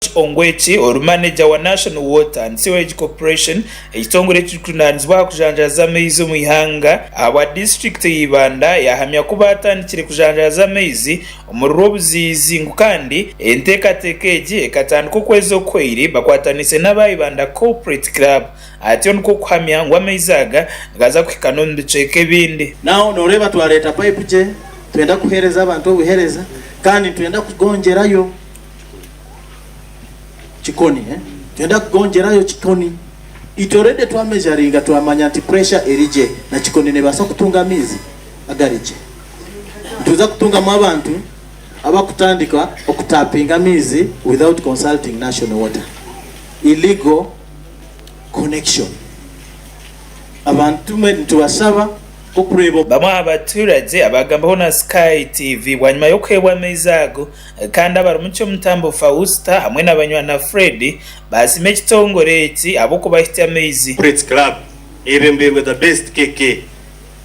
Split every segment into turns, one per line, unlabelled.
George Ongweki, ori maneja wa National Water and Sewerage Corporation, ekitongore ekirikujunaanizibwa aha kujanjaaza amaizi omu ihanga, ahabwa disiturikiti ya Ibanda, yahamya ku baatandikire kujanjaaza amaizi omuri Rwobuziizi ngu kandi enteekateeka egi ekatandika okwezi okuhweire bakwataniise n'aba Ibanda Corporate Club atyo nikwo kuhamya ngu amaizi aga nigaza kuhika n'omu bicweka ebindi. Now noreeba twareeta
payipu gye twenda kuheereza abantu obuhereza kandi nitwenda kugongyerayo. kikoni eh nenda kugongyerayo kikoni it already twa measuringa twamanya nti pressure erigye na kikoni nebasa kutunga amaizi agarigye nituza kutungamu abantu abakutandika okutapinga amaizi without consulting national water illegal connection abantu tumwe nitubashaba nkokureba Bamwe aha baturagye
abaagambiweho na Sky TV bwanyima y'okuheebwa amaizi ago Kandi Abarumuki Omutambo Fausta hamwe na Banywana Fred baasima ekitongore eki ahabw'okubaha eky'amaizi. Prets Club
eyebembeirwe The Best KK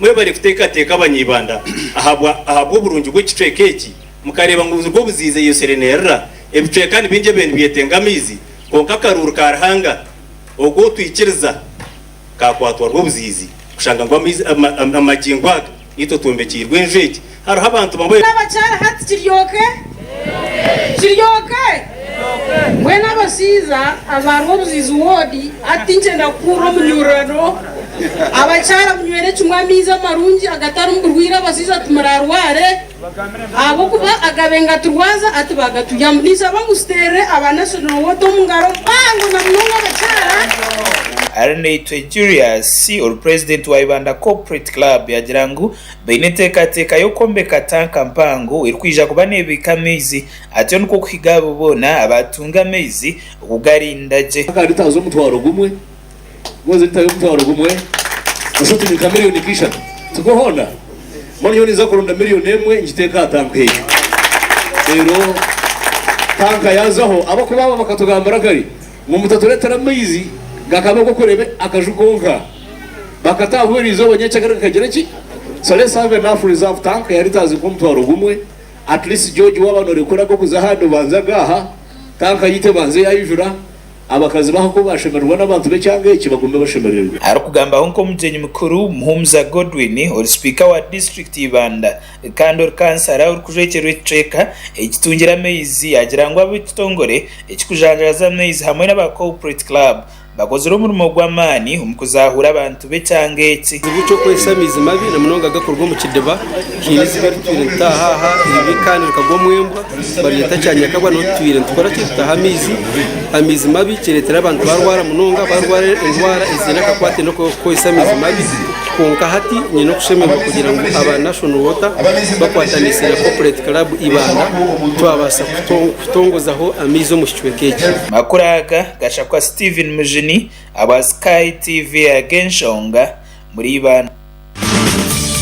mwebare kuteekateeka Abanyibanda ahabwa ahabw'oburungi bw'ekicweka eki mukareeba ngu buzirwe obuziizi eyo serenerera ebicweka nibingi ebyo nibyetenga amaizi kwonka akaruuru ka Ruhanga ogu otwikiriza Kaakwatwa rw'obuziizi kushanga ngu amagingo aga itwe twombekiirwe enju egi, hariho abantu bamwe. N'abakyara hati kiri
oke? Kiri oke? Mbwenu abashaija aba Rwobuziizi Ward, hati tinkyenda kukuhurira omunyurirano. Abakyara munywere kimwe amaizi amarungi agatarimu burwaire abashaija timurarware. Ahabw'okuba agabe ngaturwaza ati bagatuyambu. Ninshaba ngu tuteerere aba National Water omu ngaro mpango na munonga abakyara. Arinaitwe
Julius ori purezidenti wa Ibanda Corporate Club yaagira ngu baine enteekateeka y'okwombeka tanka mpango erikwija kuba neebiika amaizi atyo nikwo kuhiga abo boona abaatunga amaizi okugariinda gye. Ka lita z'omutwaro
gumwe. Ngozi ntayo omutwaro gumwe nosha oti ni nka miriyoni nka ishatu tikwo hoona? Mbwenu nyowe ninza kuronda miriyoni emwe ngiteeke aha tanka egyo. Reero tanka yaazaho ahabw'okuba abo bakatugambira kare ngu mutatureetera maizi gakaba ag'okureeba akaju konka. Bakataaha bwire-izooba nyenkyakare gakagire ki? So let's have enough reserve tank ya litres nka omutwaro gumwe at least George waaba norekura ag'okuza ahandi obanze agaaha tanka yaitu ebanze yaijura Abakazi baha ku baashemererwa n'abantu b'ekyanga eki bagume bashemererwe. Arikugambaho nk'omugyenyi
mukuru, Muhumuza Godwin ori sipiika wa disiturikiti y'Ibanda kandi ori kansara orikujwekyerwa ekicweka ekitungire amaizi yaagira ngu ab'ekitongore ekirikujanjaraza amaizi hamwe n'aba Corporate Club bakozire omurimo gw'amaani omu kuzaahuura abantu tube ekyanga eki. Ekizibu ky'okukoresa amaizi
mabi, na munonga agakuruga omu kidiba, kiine eiziba eri tutaire nitutaaha aha eri rikaanirika gwa omu embwa, barireeta kya nyakabwa niho tutaire nitukora ki? Tutaha amaizi, amaizi mabi kireetera abantu barwara munonga, barwara endwara eziine akakwate n'okukoresa amaizi mabi, kwonka hati nyine okushemererwa kugira ngu aba Nation Water bakwatanise na Corporate Club Ibanda twabaasa kutongozaho amaizi omu kicweka eki. Amakuru aga
gashakwa Steven Mujuni. Aba Sky TV ago enshonga muriibana.